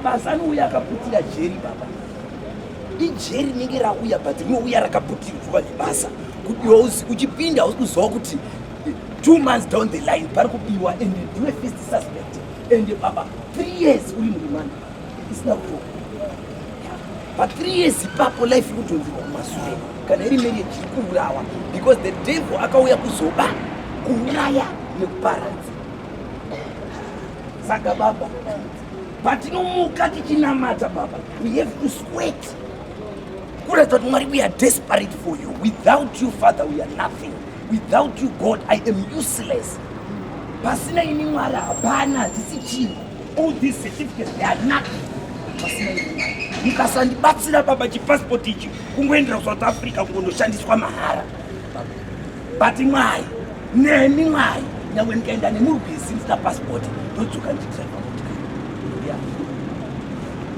Mazano uya akaputira jeri baba. Ijeri rinenge rauya but rinouya rakaputirwa nebasa. Kuti uchipinda uziwa kuti two months down the line pari kupiwa and do a first suspect and baba three years uri murimani isina kutoka pa three years ipapo life ikutonzirwa kumasure kana iri meri yechiri kuurawa because the devil akauya kuzoba kuuraya nekuparadza saka baba patinomuka tichinamata baba we have to sweat kuratidza kuti mwari we are desperate for you without you father we are nothing without you god i am useless pasina ini mwari hapana hatisi chinhu all these certificates they are nothing pasina ini mwari mukasandibatsira baba chipasipoti ichi kungoendera kusouth africa kungondoshandiswa mahara but mwari nemi mwari nyangwe ndikaenda nemurwizi ndisina pasipoti ndodzoka ndichidraiva motikari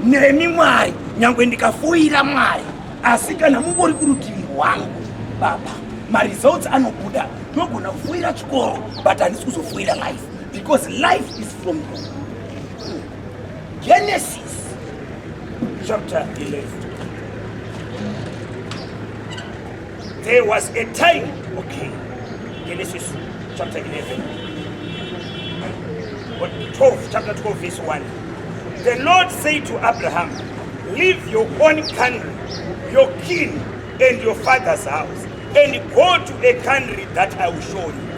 nemi mwari nyangwe ndikafoira mwari asi kana mungori kurutivi rwangu baba maresults anobuda ndinogona kufoira chikoro but handisi kuzofoira life because life is from you genesis chapter 11 There was a time. Okay. Genesis chapter 11. Or 12, chapter 12, verse 1. The Lord said to Abraham, Leave your own country, your kin, and your father's house, and go to a country that I will show you.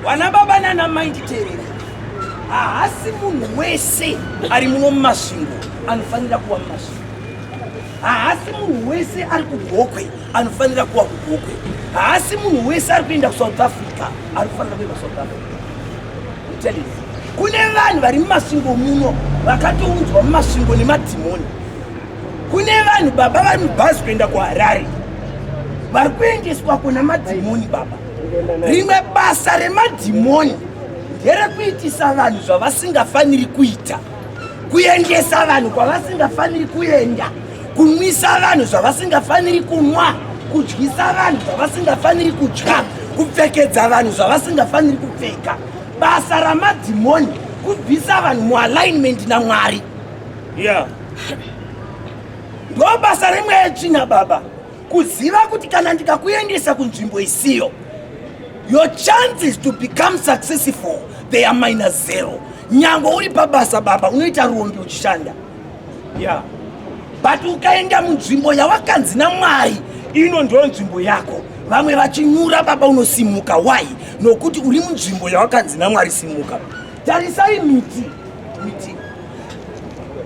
Wana baba nana mai nditerere haasi munhu wese ari muno mumasvingo anofanira kuva mumasvingo haasi munhu wese ari kugokwe anofanira kuwa kugokwe haasi munhu wese ari kuenda kusouth africa anofanira kuenda kusouth africa itelis kune vanhu vari mumasvingo muno vakatounzwa mumasvingo nemadhimoni kune vanhu baba vari mubhazi kuenda kuharare vari kuendeswa kuna madhimoni baba rimwe basa remadhimoni nderekuitisa vanhu zvavasingafaniri kuita kuendesa vanhu kwavasingafaniri kuenda kunwisa vanhu zvavasingafaniri kunwa kudyisa vanhu zvavasingafaniri kudya kupfekedza vanhu zvavasingafaniri kupfeka basa ramadhimoni kubvisa vanhu mualignment namwari ya ndo basa remweya china baba Kuziva kuti kana ndikakuendesa kunzvimbo isiyo your chances to become successful they are minus zero nyango uri pabasa baba unoita rombi uchishanda yeah. but ukaenda munzvimbo yawakanzi namwari ino ndiyo nzvimbo yako vamwe vachinyura baba unosimuka why nokuti uri munzvimbo yawakanzi namwari simuka tarisai miti miti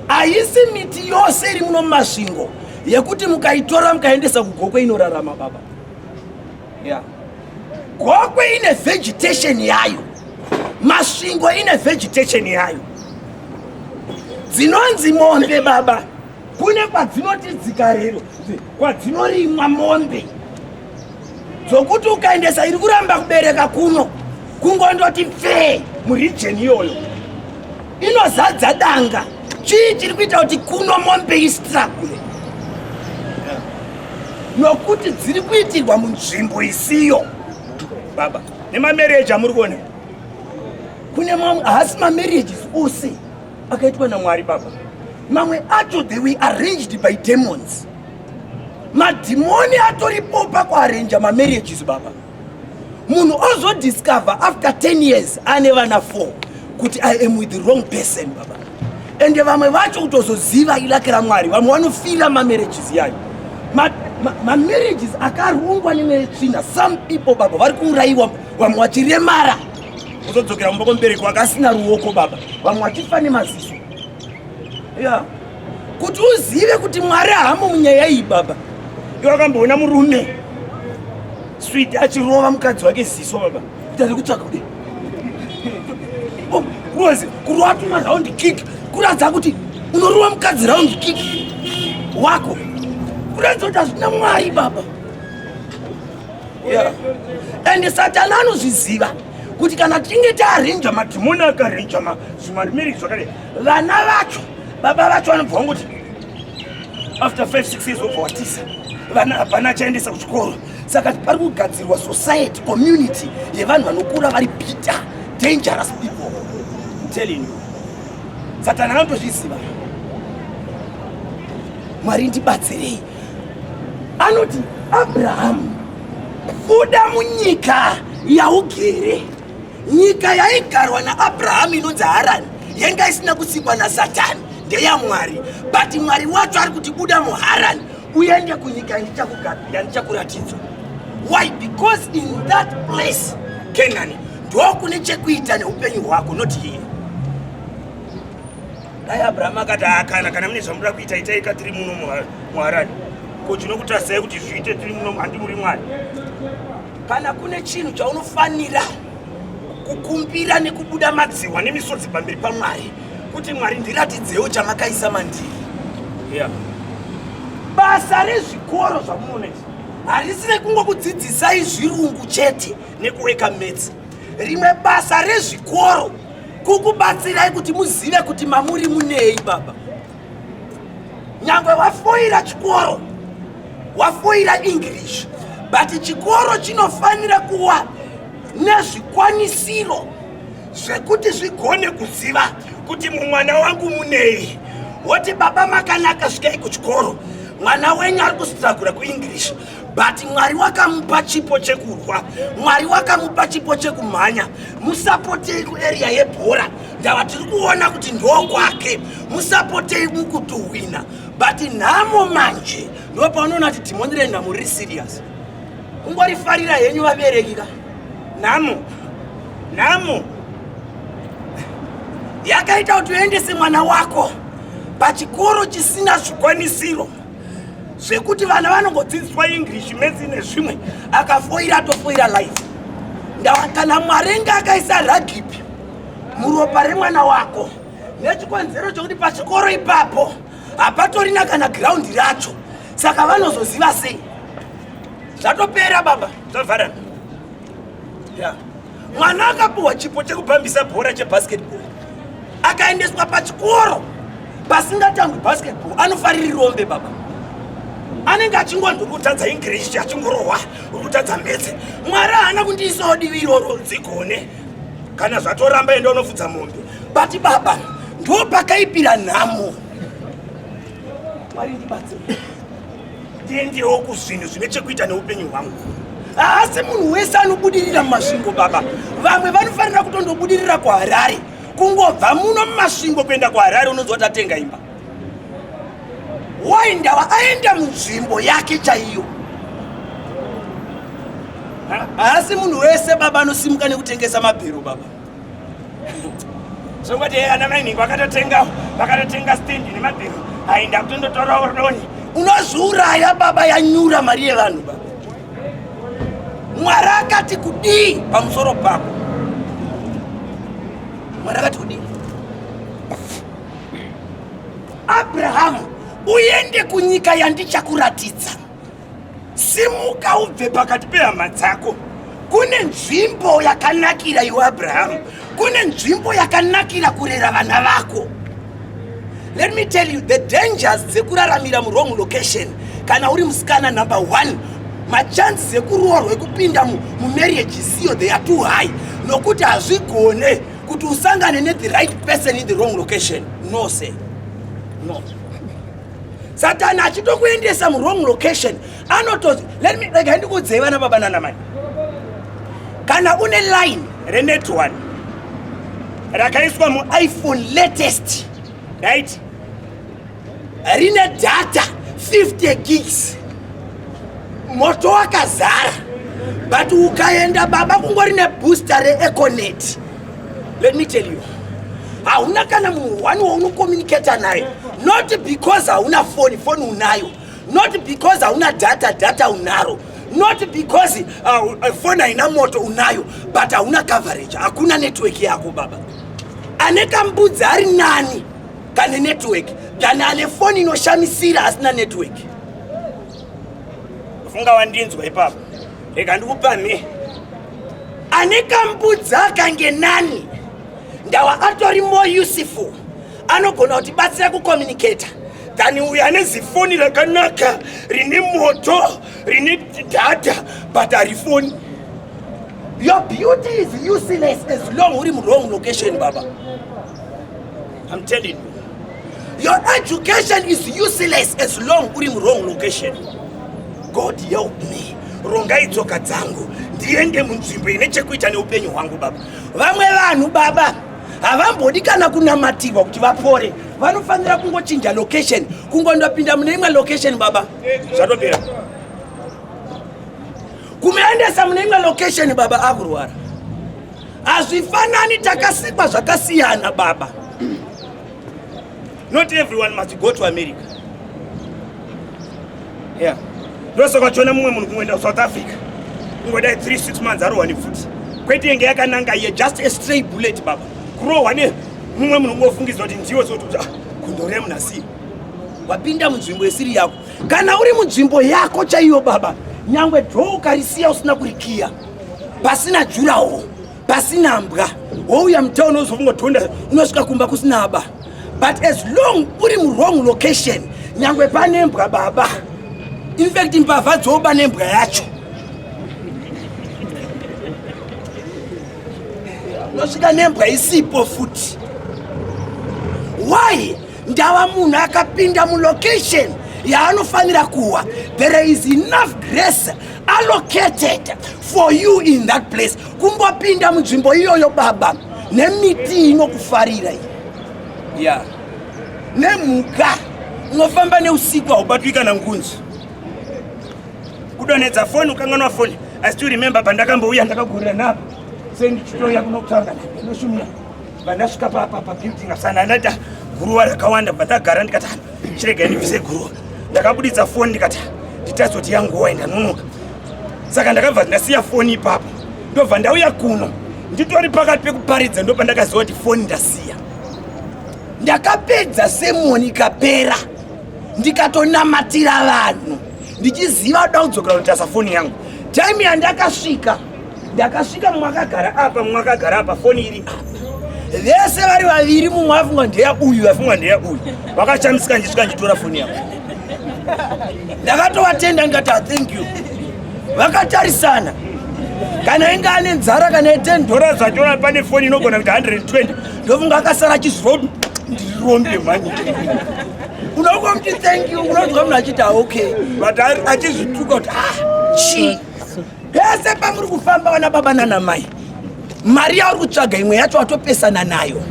haisi miti yose iri muno mumasvingo yekuti mukaitora mukaendesa kugokwe inorarama baba yeah. gokwe ine vegetation yayo masvingo ine vegetation yayo dzinonzi mombe baba kune kwadzinoti dzikarero kwadzinorimwa mombe dzokuti ukaendesa iri kuramba kubereka kuno kungondoti pfee murijeni iyoyo inozadza danga chii chiri kuita kuti kuno mombe istragule nokuti dziri kuitirwa munzvimbo isiyo baba nemamereji amuri kuona kune mamwe haasi mamereji ose akaitwa namwari baba mamwe acho they were arranged by demons madhimoni atoripo pakuarranja mamarriages baba munhu ozodiscover after 10 years ane vana 4 kuti i am with the wrong person baba ende vamwe vacho kutozoziva ilaki ramwari vamwe vanofira mamarriages yayo mamarriages ma, ma akarongwa nemetsvina some people baba vari kuurayiwa vamwe vachiremara uzodzokera kumba kwemubereki wake asina ruoko baba vamwe vachifa nemaziso ya kuti uzive kuti mwari hamo munyaya iyi baba iwe akamboona murume switi achirova mukadzi wake ziso baba kuti ari kutsvaka kudei kurwezi oh, kurova tuma raundi kiki kuratidza kuti unorova mukadzi raundi kiki wako kuratidza kuti hazvina mwari baba yeah. and satani anozviziva kuti kana tinge taarenja madhimoni akarenja zvimarimeri zvakadai vana vacho baba vacho vanobva vangoti after 56 years obva watisa vana hapana achaendesa kuchikoro saka pari kugadzirwa society community yevanhu vanokura vari bitter dangerous people telling you satani anotozviziva mwari ndibatsirei anoti abrahamu buda munyika yaugere nyika yaigarwa naabrahamu inonzi harani yanga isina kusikwa nasatani ndeyamwari but mwari wacho ari kuti buda muharani uende kunyika yandichakugabira ndichakuratidzwa why because in that place kenani ndokune chekuita neupenyu hwako not here dai abrahamu akati akana kana mune zvamuda kuita itai ka tiri muno muharani ko chinokutasai kuti zviite tiri muno handi muri mwari kana kune chinhu chaunofanira kukumbira nekubuda madziwa nemisodzi pamberi pamwari kuti mwari ndiratidzewo chamakaisa mandiri yeah. basa rezvikoro zvamunoona izvi harisi rekungokudzidzisai zvirungu chete nekuweka metsi rimwe basa rezvikoro kukubatsirai kuti muzive kuti mamuri munei baba nyangwe wafoira chikoro wafoira english but chikoro chinofanira kuwa nezvikwanisiro zvekuti zvigone kuziva kuti mumwana wangu munei woti baba makanaka svikei kuchikoro mwana wenyu ari kustragura kuenglish but mwari wakamupa chipo chekurwa mwari wakamupa chipo chekumhanya musapotei kuarea yebhora ndava tiri kuona kuti ndokwake musapotei mukutuhwina but nhamo manje ndo paunoona kuti dhimoni renhamo riri serious kungorifarira henyu vabereki ka nhamo nhamo yakaita kuti uendese mwana wako pachikoro chisina zvikwanisiro zvekuti vana vanongodzidziswa english maths nezvimwe akafoira atofoira life ndawa kana mwari enge akaisa ragipi muropa remwana wako nechikonzero chokuti pachikoro ipapo hapatorina kana giraundi racho saka vanozoziva sei zvatopera baba zvavharana yeah. mwana akapiwa chipo chekupambisa bhora chebasketball akaendeswa pachikoro pasingatangwi basketball anofariri rombe baba anenge achingonzi urikutadza english achingorohwa urikutadza metse mwari haana kundiisawo divi iroro dzigone kana zvatoramba enda unofudza mombe but baba ndo pakaipira nhamo mwari ndibatsira tiendewo kuzvinhu zvine chekuita neupenyu hwangu haasi munhu wese anobudirira mumasvingo baba vamwe vanofanira kutondobudirira kuharare kungobva muno mumasvingo kuenda kuharare unonzi watatenga imba why ndava aenda munzvimbo yake chaiyo haasi munhu wese baba anosimuka nekutengesa mabhero baba zvongoti eh, ana mainhingi vakatotenga vakatotenga stendi nemabhero hai ndakutondotora ordoni unozviuraya baba yanyura mari yevanhu baba mwari akati kudii pamusoro pako mwari akati kudii abrahamu uende kunyika yandichakuratidza simuka ubve pakati pehama dzako kune nzvimbo yakanakira iwe abrahamu kune nzvimbo yakanakira kurera vana vako let me tell you the dangers dzekuraramira muwrong location kana uri musikana number one machances ekuroorwa ekupinda mumarriage isiyo they are too high nokuti hazvigone kuti usangane ne the right person in the wrong location no se no satani achitokuendesa muwrong location anoto let me rega ndikuudzei vana baba nana mai kana une line renet one rakaiswa muiphone latest right rine data 50 gigs moto wakazara but ukaenda baba kungori nebooster reeconet Let me tell you. Hauna kana munhu wani waunokomuniketa naye not because hauna foni foni unayo not because hauna data data unaro not because uh, uh, foni haina moto unayo but hauna coverage hakuna network yako baba ane kambudzi ari nani kane network than ane foni inoshamisira asina network funga wandinzwa ipapa rega ndikupa me ane kambudza kange nani ndawa atori more useful anogona kutibatsira kucommunicata than uyo ane zifoni rakanaka rine moto rine data but harifoni your beauty is useless as long uri murong location baba I'm telling you. Your education is useless as long uri mu wrong location. God help me. Rongai tsoka dzangu ndiende munzvimbo ine chekuita neupenyu hwangu baba. Vamwe vanhu baba havambodi kana kunamatirwa kuti vapore vanofanira kungochinja location kungondopinda mune imwe location baba zvatopera kumuendesa mune imwe location baba akurwara hazvifanani takasikwa zvakasiyana baba not everyone must go to america yeah ndose kwachiona mumwe munhu kungoenda kusouth africa kungodai 3 6 months arohwani futi kwete yenge yakananga iye just a stray bullet baba kurohwa ne mumwe munhu ungofungidzwa kuti ndiwo sokuti ah, kundoreva munhu asii wapinda munzvimbo isiri yako kana uri munzvimbo yako chaiyo baba nyangwe dho ukarisiya usina kurikiya pasina jurawo pasina mbwa wouya mutown ozokungotonda unosvika kumba kusina ba but as long uri muwrong location nyangwe pane mbwa baba infact mbavha dzoba nembwa yacho unosvika nembwa isipo futi why ndava munhu akapinda mulocation yaanofanira kuwa there is enough grace allocated for you in that place kungopinda munzvimbo iyoyo baba nemiti inokufarira iyi ya nemhuka unofamba neusiku haubatwi kana ngunzi kudonhedza foni ukanganwa foni i still remember pandakambouya ndakagurira navo sendichitoya kunokutaura kana ndoshumira Vandasvika pa pa pa building asana ndaita guruwa rakawanda vandagara ndikata chirega ndivise guruwa. Ndakabuditsa phone ndikata nditarise kuti yangu waenda nonoka. Saka ndakabva ndasiya phone ipapo. Ndobva ndauya kuno. Nditori pakati pekuparidza ndopa ndakaziva kuti phone ndasiya. Ndakapedza semoni ikapera ndikatonamatira vanhu ndichiziva kuti ndakudzoka kutasa phone yangu. Time yandakasvika ndakasvika mumwe akagara apa mumwe akagara apa foni iri vese vari vaviri mumwe afungwa ndeya uyu afungwa ndeya uyu vakachamisika ndisvika nditora foni yavo ndakatovatenda ndikati ah, thank you vakatarisana kana inge ane nzara kana ye 10 dollars achiona pane foni inogona kuti 120 ndofunga akasara chizirod ndirirombe mhani unokuwa muti thank you unonzwa munhu achiti ah, okay but achizvituka kuti ah chii pese pamuri kufamba vana baba nana mai mari yauri kutsvaga imwe yacho watopesana nayo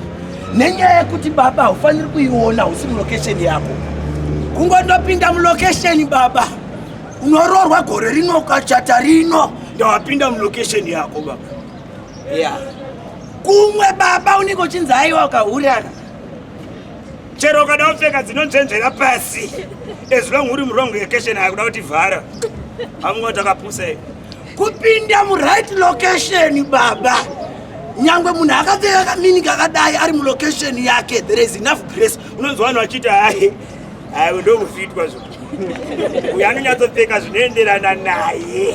nenyaya yekuti baba haufaniri kuiona husi mulocation yako kungondopinda mulocation baba unoroorwa gore rino ukachata rino ndawapinda mulocation yako baba ya yeah. kumwe baba unenge uchinzi aiwa ukahuraka chero ukada kupfeka dzinonzvenzvera pasi as long uri murongo yekeshen akuda kuti vhara amwe takapusa i kupinda muright location baba nyangwe munhu akapfeka kamini kakadai ari mulocation yake there is enough grace unonzwa vanhu vachiti hai hai ndomufitwa zvo uyo anonyatsopfeka zvinoenderana naye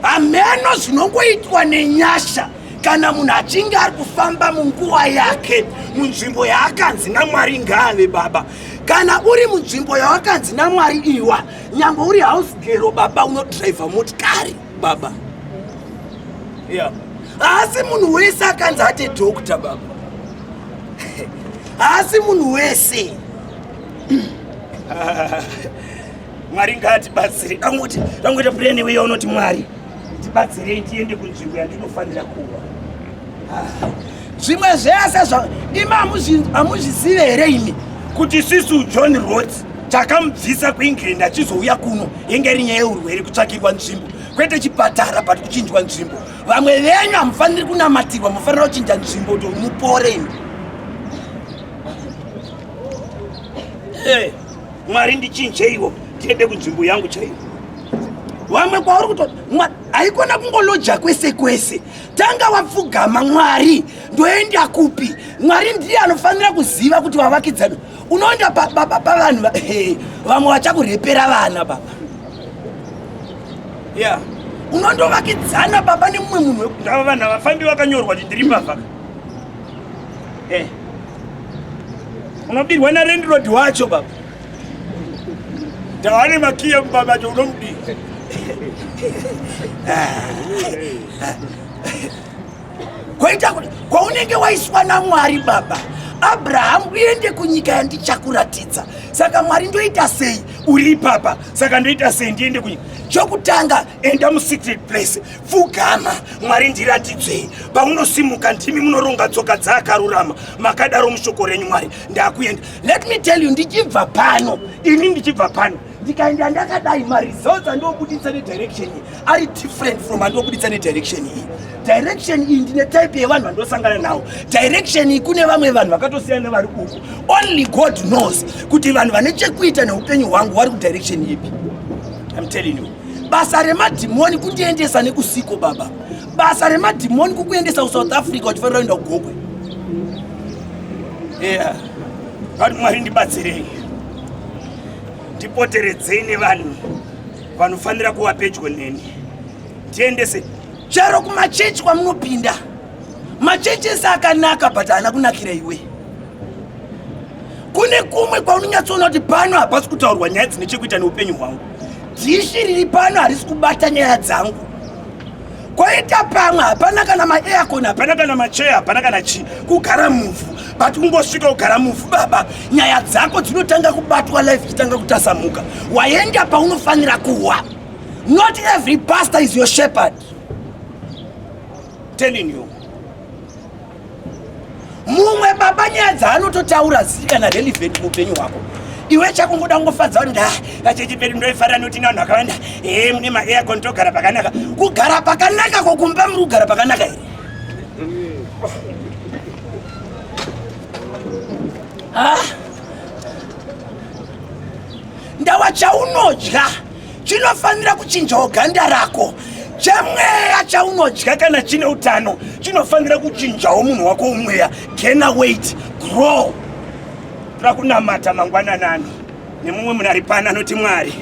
hameno zvinongoitwa nenyasha kana munhu achinge ari kufamba munguva yake munzvimbo yaakanzi namwari ngaave baba kana uri munzvimbo yawakanzi namwari iwa nyange uri house gero baba unodriver motikari baba yeah. haasi munhu wese akanzi ate doctor baba haasi munhu wese mwari ngaatibatsire dangoita dangoita purene weya unoti mwari Ndibatsirei tiende kunzvimbo yandinofanira kuva. Ah, zvimwe zvese zva imi hamuzvizive here imi kuti sisu John Rhodes takamubvisa kuEngland achizouya kuno yenge iri nyaya yeurwere kutsvakirwa nzvimbo kwete chipatara but kuchinjwa nzvimbo vamwe venyu hamufaniri kunamatirwa mufanira kuchinja nzvimbo kuti mupore imi hey, eh, mwari ndichinjeiwo tiende kunzvimbo yangu chaiyo vamwe kwauri kuto haikona kungoloja kwese kwese tanga wapfugama mwari ndoenda kupi mwari ndiye anofanira kuziva kuti vavakidzani unoenda pavanhu vamwe vachakurepera vana baba ya unondovakidzana baba nemumwe munhu wekundava vanhu avafambi vakanyorwa kuti ndiri mbavaka eh. unobirwa narendirodi wacho baba Tawani makia mbaba jono mdi. Kwaita kuti kwaunenge waiswa naMwari baba Abraham uende kunyika yandichakuratidza. Saka Mwari ndoita sei uri papa? Saka ndoita sei ndiende kunyika? Chokutanga enda musecret place, pfugama, Mwari ndiratidzei. Paunosimuka ndimi munoronga tsoka dzaakarurama, makadaro mushoko renyu Mwari. Ndakuenda Let me tell you ndichibva pano ini ndichibva pano ndikaenda ndakadai maresults andobuditsa nedirection iyi ari different from andobuditsa nedirection iyi direction iyi ndine type yevanhu vandosangana nawo direction iyi kune vamwe vanhu vakatosiyana nevari uku only god knows kuti vanhu vane chekuita neupenyu hwangu vari kudirection ipi im telling you basa remadhimoni kundiendesa nekusiko baba basa remadhimoni kukuendesa kusouth africa uchifanira kuenda kugokwe yeah. vati mwari ndibatsirei ndipoteredzei nevanhu vanofanira kuva pedyo neni ndiendese chero kumachechi kwamunopinda machechi ese akanaka but haana kunakira iwe kune kumwe kwaunonyatsoona kuti pano hapasi kutaurwa nyaya dzine chekuita neupenyu hwangu dhishi riri pano harisi kubata nyaya dzangu kwaita pamwe hapana kana maaircon hapana kana macheya hapana kana chii kugara muvhu but ungosvika kugara muvhu baba nyaya dzako dzinotanga kubatwa life ichitanga kutasamuka waenda paunofanira kuwa not every pastor is your shepherd telling you mumwe baba nyaya dzaanototaura zii kana relevant muupenyu hwako iwe chakungoda kungofadza kuti nda vacheche pedu ndoifarira nekuti navanhu vakawanda ee mune maaircon togara pakanaka kugara pakanaka kokumba muri kugara pakanaka here ah. ndawa chaunodya chinofanira kuchinjawo ganda rako chamweya chaunodya kana chine utano chinofanira kuchinjawo munhu wako umweya gena weit grow tira kunamata mangwananani nemumwe munhu ari pano anoti mwari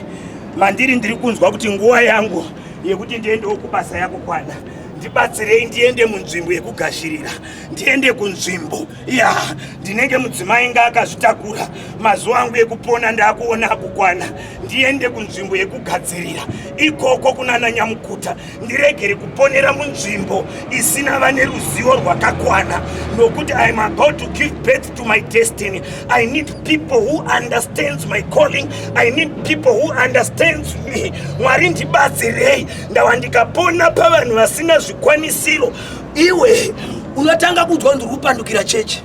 mandiri ndiri kunzwa kuti nguva yangu yekuti ndiendewo kubasa yako kwana ndibatsirei ndiende munzvimbo yekugashirira ndiende kunzvimbo ya ndinenge mudzimai nga akazvitakura mazuva angu ekupona ndaakuona akukwana ndiende kunzvimbo yekugadzirira ikoko kunana nyamukuta ndiregere kuponera munzvimbo isina vane ruzivo rwakakwana nokuti iam about to give birth to my destiny i need people who understands my calling i need people who understands me mwari ndibatsirei ndava ndikapona pavanhu vasina zvikwanisiro iwe unotanga kunzwa kuti kupandukira chechi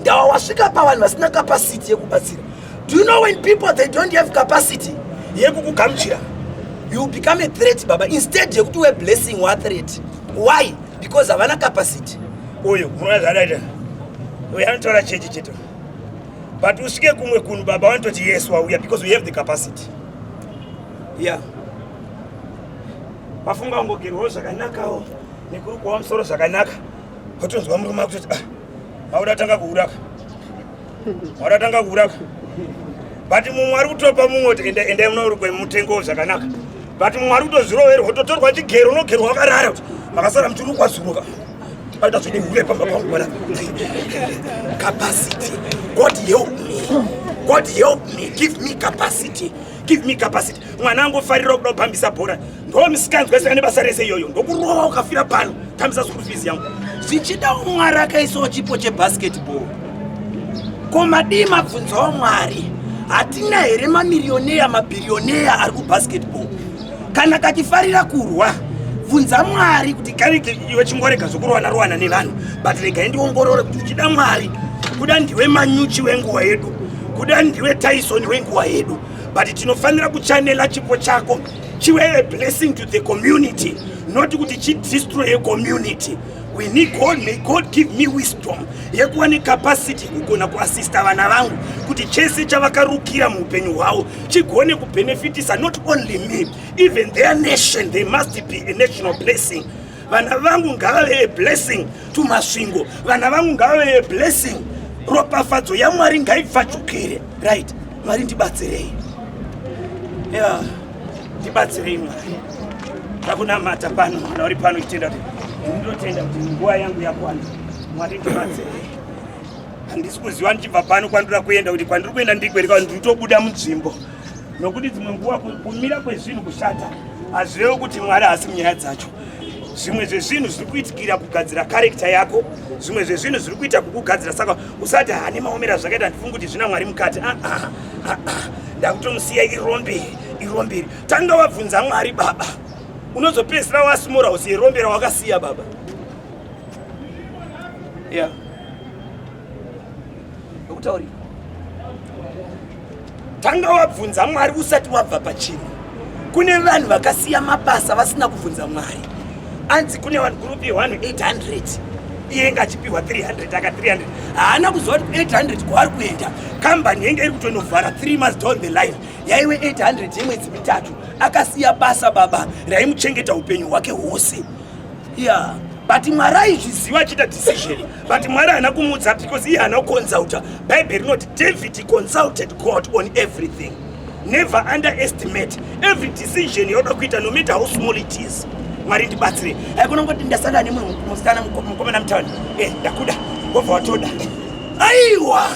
ndawa wasvika pavanhu vasina capacity yekubatsira do you know when people they don't have capacity yekukugamuchira you become a threat baba instead yekuti we blessing wa threat why because havana capacity uyu unazvadaita uyu anotaura chechi cheto but usvike kumwe kunhu baba vanototi yes wauya because we have the capacity yeah vafunga ungogerwawo zvakanakawo nekurukwawo musoro zvakanaka otonzwa murume akutoti ah, mauda tanga kuuraka mauda tanga kuuraka but mumwe ari kutopa mumwe kuti enda endai munorukwe mutengo zvakanaka but mumwe ari kutozviroverwa ototorwa chigero unogerwa wakarara kuti makasara muchirukwa zuruka aita zvine hure pamba pangu bwana capacity god help me god help me give me capacity give me capacity mwana angofarira kuda kupambisa bhora ndo misikanzwa isina nebasa rese iyoyo ndokurova ukafira pano tambisa school fees yangu zvichida umwari akaisawo chipo chebasketball ko madii mabvunzawo mwari hatina here mamiriyoneya mabhiriyoneya ari kubasketball kana kachifarira kurwa bvunza mwari kuti kani iwe chingorega zvokurowana rowana nevanhu but regai ndiongorore kuti uchida mwari kuda ndiwe manyuchi wenguva yedu kuda ndiwe tyson wenguva yedu but tinofanira kuchanela chipo chako chive a blessing to the community not kuti chidestroye community we need god may god give me wisdom yekuva necapacity yekugona kuasista vana vangu kuti chese chavakarukira muupenyu hwavo chigone kubenefitisa not only me even their nation they must be a national blessing vana vangu ngavave a blessing to masvingo vana vangu ngavave a blessing ropafadzo yamwari ngaipfachukire right mwari ndibatsirei ya ndibatsirei mwari takunamata pano mwana uri pano ichitenda kuti ndinotenda kuti nguva yangu yakwana mwari ndibatsirei handisi kuziva ndichibva pano kwandira kuenda kuti kwandiri kuenda ndiko here kana nditobuda munzvimbo nokuti dzimwe nguva kumira kwezvinhu kushata hazvirevo kuti mwari haasi munyaya dzacho zvimwe zvezvinhu zviri kuitikira kugadzira karekta yako zvimwe zvezvinhu zviri kuita kukugadzira saka usati hane maomera zvakaita ndifungi kuti zvina mwari mukati ah, ah, ah, ndakutomusiya irombe iromberi tanga wabvunza mwari baba unozopedzisira wasimura usi irombera wakasiya baba yeah. ndokutauri tanga wabvunza mwari usati wabva pachinhu kune vanhu vakasiya mabasa vasina kubvunza mwari anzi kune vanhu gurupi yewanhu 800 iye nga achipiwa 300 aka 300 haana kuziva kuti 800 kwaari kuenda kambani yenge iri kutonovhara 3 months down the line yaive 800 yemwedzi mitatu akasiya basa baba raimuchengeta upenyu hwake hwose yeah but mwari aizviziva achiita decision but mwari haana kumuudza because iye haana kuconsulta bhaibheri rinoti david consulted god on everything never underestimate every decision yauda kuita no matter how small it is mwari ndibatsire haikona kungoti ndasangana nemwe musikana mukomana mutown e eh, ndakuda wobva watoda aiwa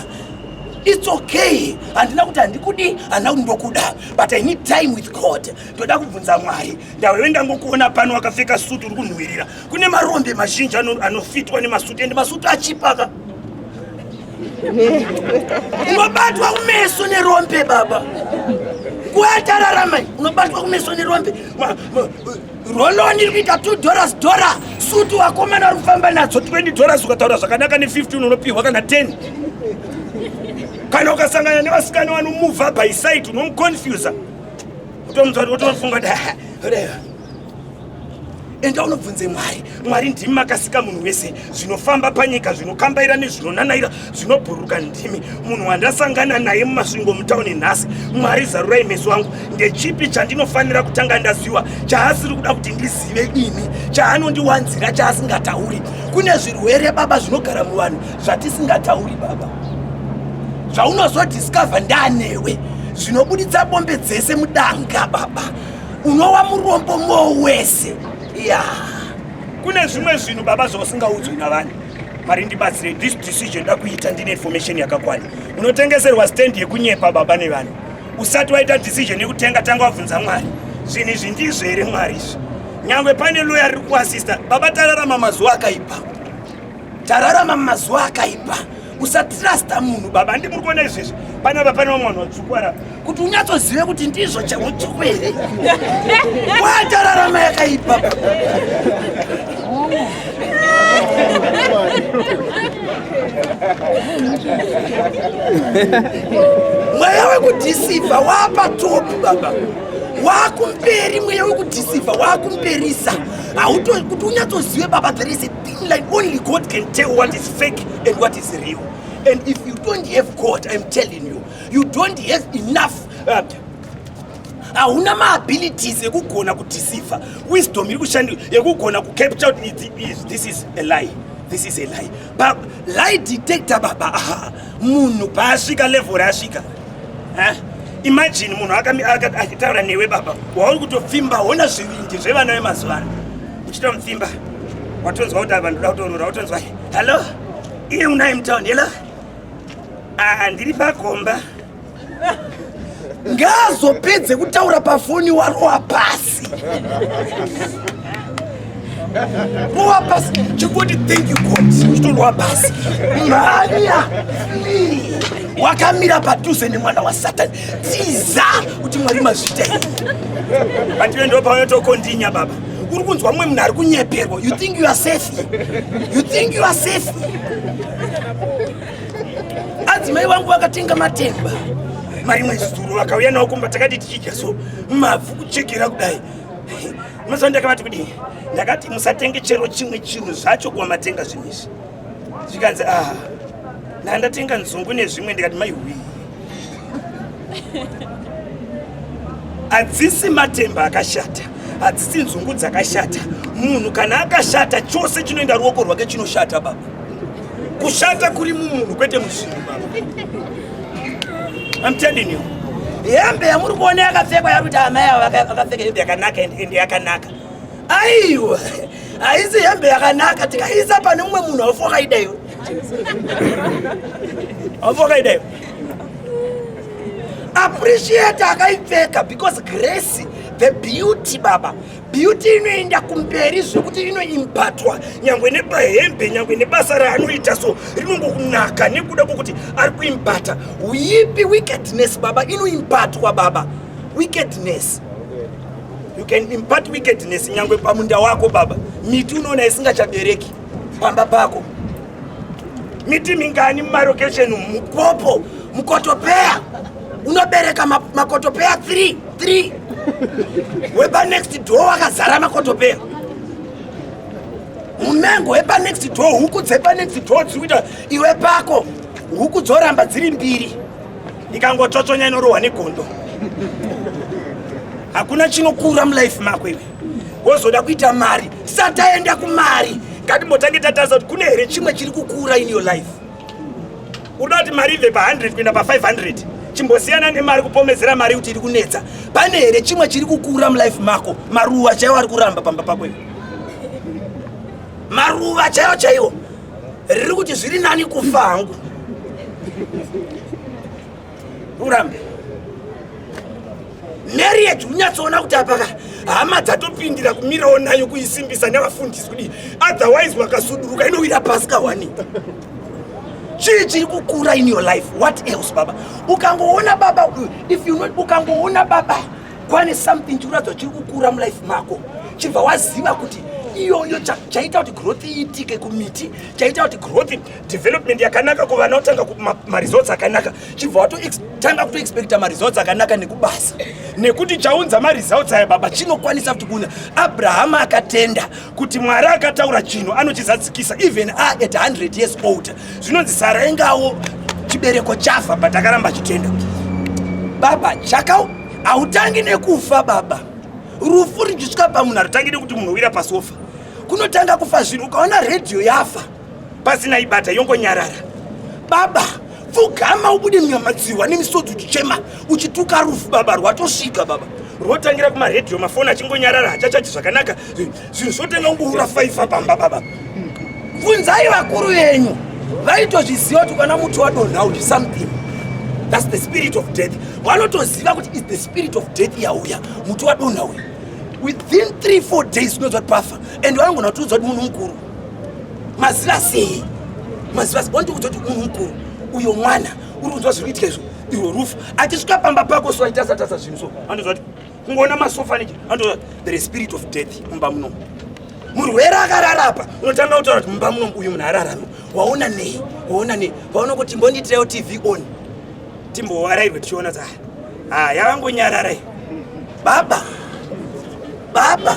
its okay handina kuti handikudi handina kuti ndokuda but i need time with god ndoda kubvunza mwari ndauyo ndangokuona pano wakapfeka suti uri kunhuhwirira kune marombe mazhinji anofitwa nemasuti ende masuti achipaka unobatwa kumeso nerombe baba kuatararamai unobatwa kumeso nerombe roloni iri kuita two dollars dora suti wakomana ari kufamba nadzo 20 dollars ukataura zvakanaka ne15 unopihwa kana 10 kana ukasangana nevasikana vanomuvha by site unomuconfusa utomutswa utofunga kuti enda unobvunze mwari mwari ndimi makasika munhu wese zvinofamba panyika zvinokambaira nezvinonanaira zvinobhuruka ndimi munhu wandasangana naye mumasvingo mutauni nhasi mwari zarurai meso angu ndechipi chandinofanira kutanga ndaziwa chaasiri kuda kuti ndizive ini chaanondiwanzira chaasingatauri kune zvirwere baba zvinogara muvanhu zvatisingatauri baba zvaunozodiscover ndanewe zvinobuditsa bombe dzese mudanga baba unowa murombo moo wese ya kune zvimwe zvinhu baba zvausingaudzwi navanhu mari ndibatsire this decision da kuita ndine information yakakwana unotengeserwa stand yekunyepa baba nevanhu usati waita decision yekutenga tanga wabvunza mwari zvinhu izvi ndizvo here mwari izvi nyangwe pane loya riri kuasista baba tararama mazuva akaipa tararama mazuva akaipa usatrasta munhu baba ndi muri kuona izvezvi panapa pane vamwe vanhu vatsvukwara kuti unyatsozive kuti ndizvo chautsvuku here watararama yakaipa mweya wekudhisiva waapatopi baba wakumberi mweya wekudhisiva wakumberisa hauto kuti unyatsozive baba there is a Like only God can tell what is fake and what is real. And if you don't have God, I'm telling you, you don't have enough uh, hauna maabilities ekugona kudeceiver wisdom iri kushandi yekugona kucapture out this is a lie this is a lie ba lie detector baba aha munhu paasvika level raasvika eh? imagine munhu akataura newe baba wauri kutopfimba hona zvivindi zvevana vemazuva ano uchitomupfimba watonzwa kuti apa ndoda kutorora watonzwa hallo iye unai mutown helo ah, ndiri pagomba ngaazopedze kutaura pafoni warowa pasi rowa pasi chikoti thank you god chitorowa pasi mhanya wakamira padhuze nemwana wasatani tiza kuti mwari mazvitei batiwe ndopaunotokondinya baba uri kunzwa mumwe munhu ari kunyeperwa you think you are safe you think you are safe adzimai vangu vakatenga matemba marimwe zuro vakauya nawo kumba takati tichidya so mabvu kuchekera kudai mazuva ndakavati kudii ndakati musatenge chero chimwe chiro zvacho kuva matenga zvinhu izvi zvikanzi ah ndandatenga nzungu nezvimwe ndikati mai wii hadzisi matemba akashata hadzisi nzungu dzakashata munhu kana akashata chose chinoenda ruoko rwake chinoshata baba kushata kuri mumunhu kwete muzvinhu baba I'm telling you hembe yamuri kuona yakapfekwa yari kuti amai avo vakapfeka hembe yakanaka ende yakanaka aiwa haisi hembe yakanaka tikaiisa pane mumwe munhu aufokaidaiwe appreciate akaipfeka because grace the beauty baba beauty inoenda kumberi zvekuti inoimbatwa nyangwe nepahembe nyangwe nebasa raanoita so rinongokunaka nekuda kwokuti ari kuimbata uipi wickedness baba inoimbatwa baba wickedness you can impart wickedness nyangwe pamunda wako baba miti unoona isingachabereki pamba pako miti mingani mumarokesheni umu mupopo mukotopeya unobereka ma- makotopeya 3 3 wepa next door wakazara makotopeya munengo wepa next door huku dzepa next door dziri kuita iwe pako huku dzoramba dziri mbiri ikangotsotsonya inorohwa negondo hakuna chinokura mulife mako iwe wozoda kuita mari sataenda kumari ngatimbotange tatarisa kuti kune here chimwe chiri kukura in your life unoda kuti mari ibve pa100 kuenda pa500 chimbosiyana nemari kupomedzera mari kuti iri kunetsa pane here chimwe chiri kukura mulife mako maruva chaiwo ari kuramba pamba pako ivo maruva chaiwo chaiwo riri kuti zviri nani kufa hangu urambe marriage unyatsoona kuti apaka hama dzatopindira kumirawo nayo kuisimbisa nevafundisi kudii otherwise wakasuduruka inowira pasi kawani chii chiri kukura in your life what else baba ukangoona baba if you not ukangoona baba kwane something chikuratidza chiri kukura mulife mako chibva waziva kuti iyoyo chaita kuti growth iitike kumiti chaita kuti growth development yakanaka kuvana otanga maresults akanaka chibva watotanga kutoexpecta maresults akanaka nekubasa nekuti chaunza maresults aya baba chinokwanisa kuti kuna abrahama akatenda kuti mwari akataura chinhu anochizadzikisa even a at 100 years older zvinonzi sara ingawo chibereko chafa but akaramba achitenda baba chaka hautangi nekufa baba rufu richisvika pamunhu harutangi nekuti munhu owira pasofa kunotanga kufa zvinhu ukaona redhiyo yafa pasina ibata yongonyarara baba pfugama ubude munyama dzihwa nemisodzi uchichema uchituka rufu baba rwatosvika baba rwotangira kumaredhiyo mafoni achingonyarara hachachaji zvakanaka zvinhu zvotanga kungoura faifa pamba baba bvunzai vakuru venyu vaitozviziva kuti kana muti wadonha uyu something thats the spirit of death vanotoziva kuti is the spirit of death yauya muti wadonha uyu within 3 4 days unonzva kuti pafa and vanongona kutiudza kuti munhu mukuru maziva sei maziva sei wandikuudza kuti munhu mukuru uyo mwana uri kunzwa zviri kuitika izvo iwo rufu achisvika pamba pako so aitasa tasa zvinhu so andoziva kuti kungoona masofa nechi andoziva there is spirit of death mumba munomu murwere akararapa unotanga kutaura kuti mumba munomu uyu munhu ararame waona nei waona nei waona kuti mbondiitirawo tv on timbowarairwe tichiona saa ha ah, yavangonyararai baba baba